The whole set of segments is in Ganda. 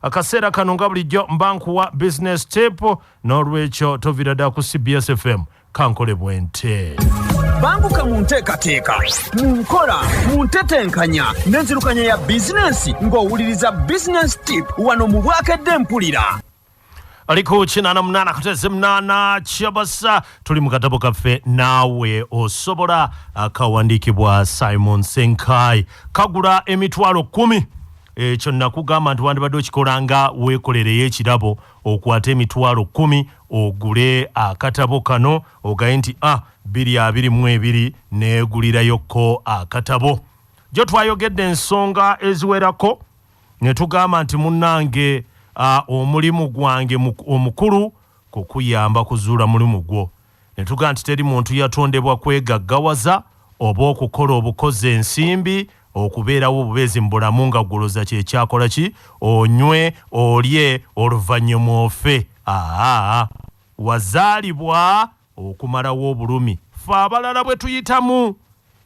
akaseera kano nga bulijjo mba nkuwa business tip n'olwekyo tovira dda ku cbs fm kankole bwente banguka mu nteekateeka mu nkola mu ntetenkanya n'enzirukanya ya bizinensi ng'owuliriza bizinensi tip wano mu bwakedde mpulira ali ku kinana munana kuteze munana kyabasa tuli mu katabo kaffe naawe osobola akawandiikibwa simon senkai kagula emitwalo kumi ekyo eh, nakugamba nti wandibadde okikola nga weekolereyo ekirabo okwata emitwalo kumi ogule akatabo kano ogaye nti a ah, biri abiri mu ebiri neegulirayokko akatabo gyo twayogedde ensonga eziwerako ne tugamba nti munnange omulimu gwange omukulu kukuyamba kuzuula mulimu gwo ne tugamba nti teri muntu yatondebwa kwegaggawaza oba okukola obukozi ensimbi okubeerawo obubeezi mu bulamu nga guloza kyekyakola ki onywe olye oluvannyuma ofe aa wazaalibwa Okumalawo obulumi ffe abalala bwe tuyitamu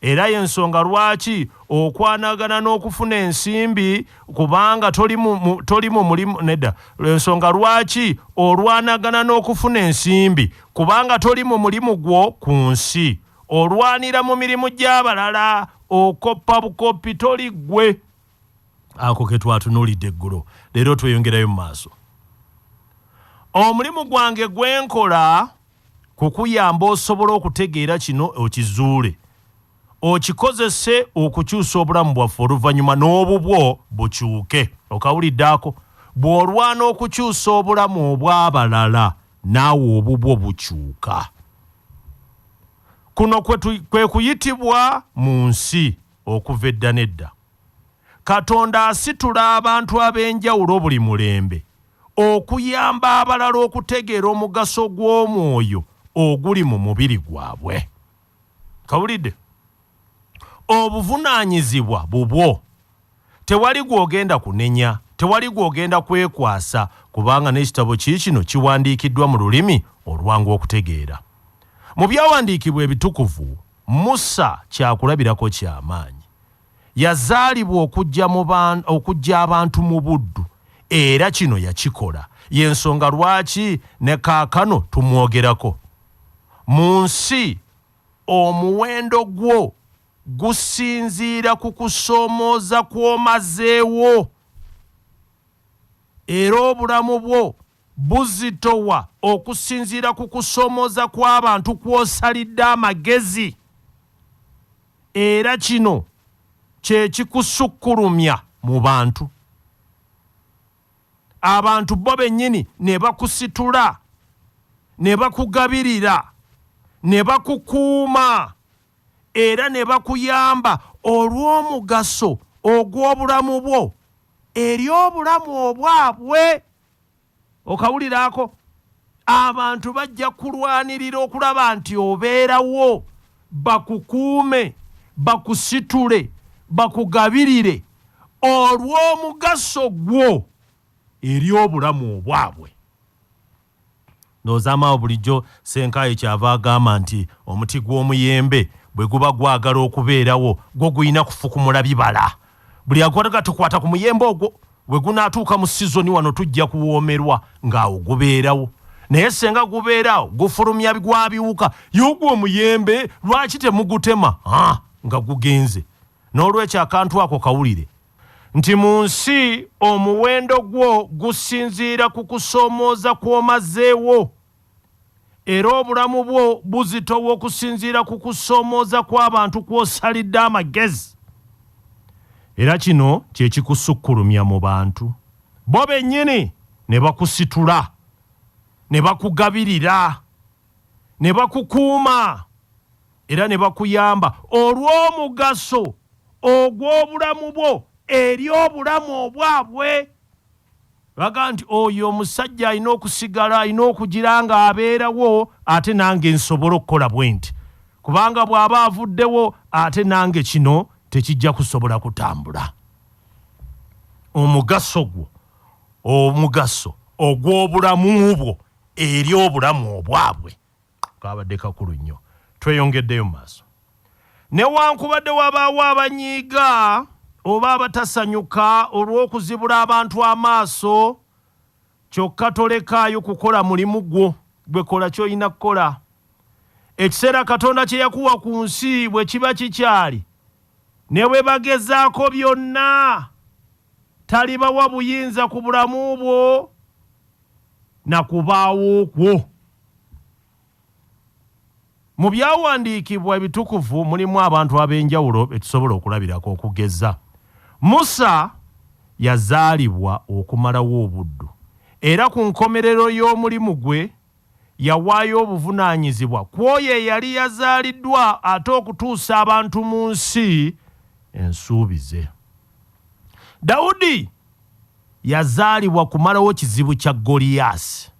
era y'ensonga lwaki okwanagana n'okufuna ensimbi kubanga toli mu mulimu nedda ensonga lwaki olwanagana n'okufuna ensimbi kubanga toli mu mulimu gwo ku nsi olwanira mu mirimu gy'abalala okoppa bukoppi toli ggwe ako ke twatunuulidde eggulo leero tweyongerayo mu maaso omulimu gwange gwe nkola kukuyamba osobola okutegeera kino okizuule okikozese okukyusa obulamu bwaffe oluvannyuma n'obubwo bukyuke okawulidde ako bw'olwana okukyusa obulamu obw'abalala naawe obubwo bukyuka kuno kwe kuyitibwa mu nsi Okuva edda n'edda, Katonda asitula abantu ab'enjawulo buli mulembe okuyamba abalala okutegeera omugaso gw'omwoyo oguli mu mubiri gwabwe. Kawulidde? Obuvunaanyizibwa bubwo. Tewali gw'ogenda kunenya, tewali gw'ogenda kwekwasa, kubanga n'ekitabo kiikino kiwandiikiddwa mu lulimi olwangu okutegeera. Mu Byawandiikibwa Ebitukuvu, Musa kyakulabirako kya maanyi. Yazaalibwa okuggya mu ba, okuggya abantu mu buddu, era kino yakikola. Y'ensonga lwaki ne kaakano tumwogerako. Mu nsi, omuwendo gwo gusinziira ku kusoomooza kw'omazeewo, era obulamu bwo buzito wa okusinziira ku kusomooza kw'abantu kw'osalidde amagezi era kino kye kikusukkulumya mu bantu abantu bo bennyini ne bakusitula ne bakugabirira ne bakukuuma era ne bakuyamba olw'omugaso ogw'obulamu bwo eri obulamu obwabwe okawulira ako abantu bajja kulwanirira okulaba nti obeerawo bakukuume bakusitule bakugabirire olw'omugaso gwo eri obulamu obwabwe Ndowozama awo bulijjo Ssenkaayi ky'ava agamba nti omuti gw'omuyembe bwe guba gwagala okubeerawo gwo gulina kufukumula bibala. Buli agukwatako tukwata ku muyembe ogwo. We gunaatuuka mu sizoni wano tujja kuwoomerwa ng'awo gubeerawo. Naye ssenga gubeera awo gufulumya gwa biwuka. Ye ogwo omuyembe lwaki temugutema nga gugenze? Noolwekyo akantu ako kawulire. nti mu nsi omuwendo gwo gusinziira ku kusoomooza kw'omazeewo era obulamu bwo buzitowa okusinziira ku kusoomooza kw'abantu kw'osalidde amagezi era kino kye kikusukkulumya mu bantu bo bennyini ne bakusitula ne bakugabirira ne bakukuuma era ne bakuyamba olw'omugaso ogw'obulamu bwo eri obulamu obwabwe baga nti oyo omusajja alina okusigala alina okugira nga abeerawo ate nange nsobole okukola bwe nti kubanga bw'aba avuddewo ate nange kino tekijja kusobola kutambula omugaso gwo omugaso ogw'obulamu bwo eri obulamu obwabwe kabadde kakulu nnyo tweyongeddeyo mu maaso newankubadde wabaawo abanyiiga oba abatasanyuka olw'okuzibula abantu amaaso kyokka tolekaayo kukola mulimu gwo gwe kola ky'olina kukola ekiseera katonda kye yakuwa ku nsi bwe kiba kikyali ne bwe bagezaako byonna Talibawa buyinza ku bulamu bwo na kubaawo kwo. Mu byawandiikibwa ebitukuvu mulimu abantu ab'enjawulo be tusobola okulabirako. Okugeza, Musa yazaalibwa okumalawo obuddu era ku nkomerero y'omulimu gwe, yawaayo obuvunaanyizibwa ku oyo eyali yazaaliddwa ate okutuusa abantu mu nsi ensuubize. Dawudi yazaalibwa kumalawo kizibu kya Goliyaasi.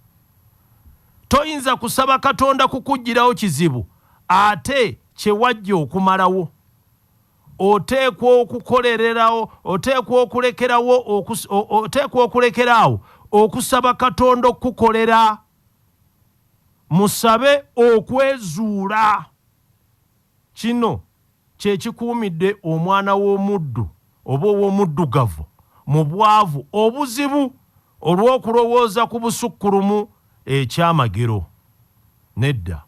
Toyinza kusaba Katonda kukuggyirawo kizibu ate kye wajja okumalawo. oteekwa okukolererawo oteekwa okulekerawo oteekwa okulekera awo okusaba katonda okukukolera musabe okwezuula kino kyekikuumidde omwana w'omuddu oba ow'omuddugavu mu bwavu obuzibu olw'okulowooza ku busukkulumu ekyamagero Nedda.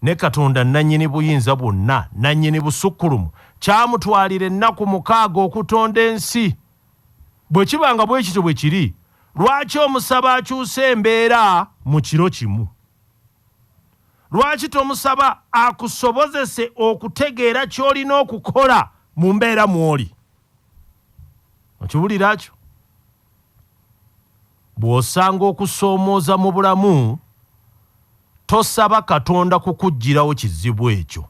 Ne Katonda Nnannyini Buyinza Bwonna, Nnannyini Busukkulumu, kyamutwalira ennaku mukaaga okutonda ensi. Bwe kiba nga bwe kityo bwe kiri, lwaki omusaba akyuse embeera mu kiro kimu? Lwaki tomusaba akusobozese okutegeera ky'olina okukola mu mbeera mw'oli? Okiwulira ekyo? Bw'osanga okusoomooza mu bulamu, tosaba Katonda kukuggyirawo kizibu ekyo,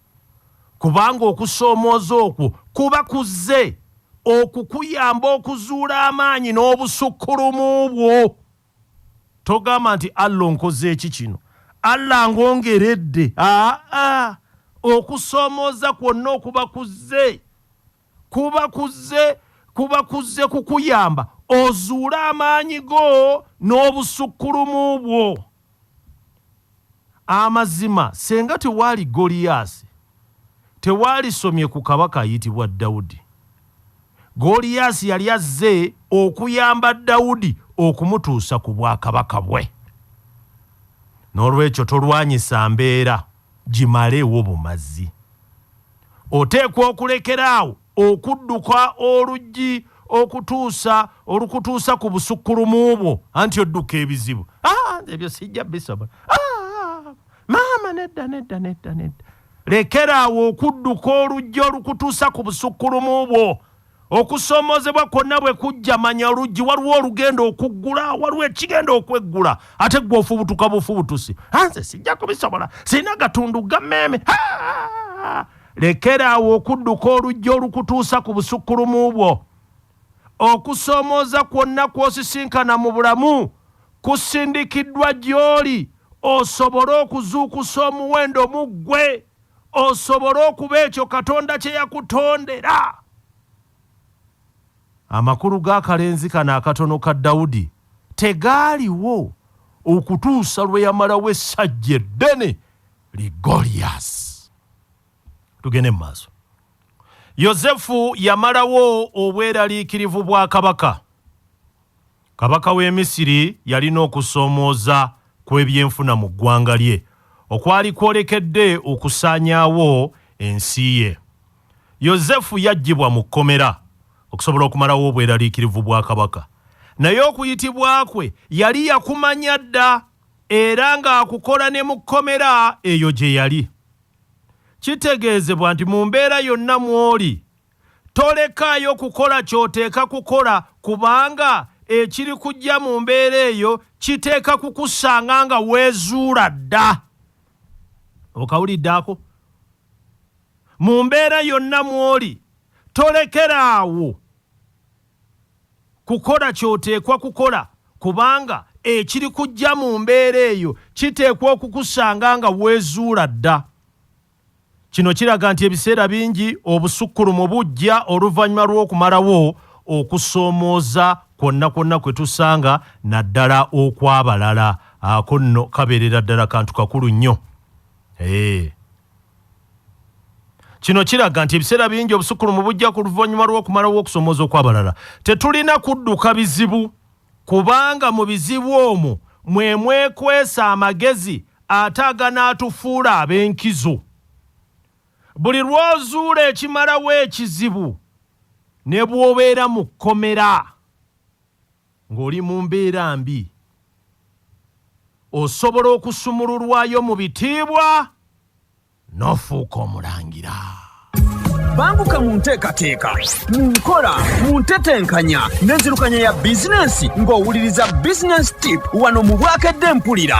kubanga okusoomooza okwo kuba kuzze okukuyamba okuzuula amaanyi n'obusukkulumu bwo. Togamba nti, Allah onkoze ki kino? Allah angongeredde? Aa, okusoomooza kwonna okuba kuzze Kuba kuzze, kuba kuzze kukuyamba ozuule amaanyi go n'obusukkulumu bwo. Amazima senga tewaali Goliyaasi, tewalisomye ku kabaka ayitibwa Dawudi. Goliyaasi yali azze okuyamba Dawudi okumutuusa ku bwakabaka bwe. N'olwekyo tolwanyisa mbeera. gimalewo bumazi. Oteekwa okulekera awo okudduka oluggi okutuusa olukutuusa ku busukkulumu bwo, anti odduka ebizibu. Ah, ebyo sijja bisobola. Ah, maama nedda nedda nedda nedda. Lekera awo okudduka oluggi olukutuusa ku busukkulumu bwo. Okusoomoozebwa kwonna bwe kujja, manya oluggi waliwo olugenda okuggula, waliwo ekigenda okweggula, ate ggwe ofubutuka bufubutusi. Anze sijja kubisobola, sirina gatundu ga mmeeme. Lekera awo okudduka oluggi olukutuusa ku busukkulumu bwo. Okusoomooza kwonna kw'osisinkana mu bulamu kusindikiddwa gy'oli osobole okuzuukusa omuwendo mu ggwe. osobole okuba ekyo katonda kye yakutondera amakulu g'akalenzi kano akatono ka dawudi tegaaliwo okutuusa lwe yamalawo essajja eddene li goliyasi tugende mu maaso yosefu yamalawo obweraliikirivu bwa kabaka Kabaka w'e Misiri yalina okusoomooza kw'ebyenfuna mu ggwanga lye okwali kwolekedde okusaanyaawo ensi ye. Yozefu yaggyibwa mu kkomera okusobola okumalawo obweraliikirivu bwa kabaka. Naye okuyitibwa kwe yali yakumanya dda era ng'akukola ne mu kkomera eyo gye yali. Kitegeezebwa nti mu mbeera yonna mw'oli, Tolekaayo kukola ky'oteeka kukola kubanga ekirikuggya mu mbeera eyo kiteeka kukusanga nga weezuula dda. Okawulidde ako? Mu mbeera yonna mw'oli, tolekera awo kukola ky'oteekwa kukola kubanga ekirikuggya mu mbeera eyo kiteekwa okukusanga nga weezuula dda. Kino kiraga nti ebiseera bingi obusukkulumu bujja oluvannyuma lw'okumalawo okusoomooza kwonna kwonna kwe tusanga naddala okw'abalala. Ako nno kabeerera ddala kantu kakulu nnyo. Eeh. Kino kiraga nti ebiseera bingi obusukkulumu bujja ku luvannyuma lw'okumalawo okusomooza okw'abalala. Tetulina kudduka bizibu. Kubanga mu bizibu omwo mwe mwekwese amagezi ate aganaatufuula ab'enkizo. Buli lw'ozuula ekimalawo ekizibu, ne bw'obeera mu kkomera ng'oli mu mbeera mbi, osobola okusumululwayo mu bitiibwa n'ofuuka omulangira. Banguka mu nteekateeka, mu nkola, mu ntetenkanya n'enzirukanya ya bizinensi ng'owuliriza Business Tip wano mu Bwakedde Mpulira.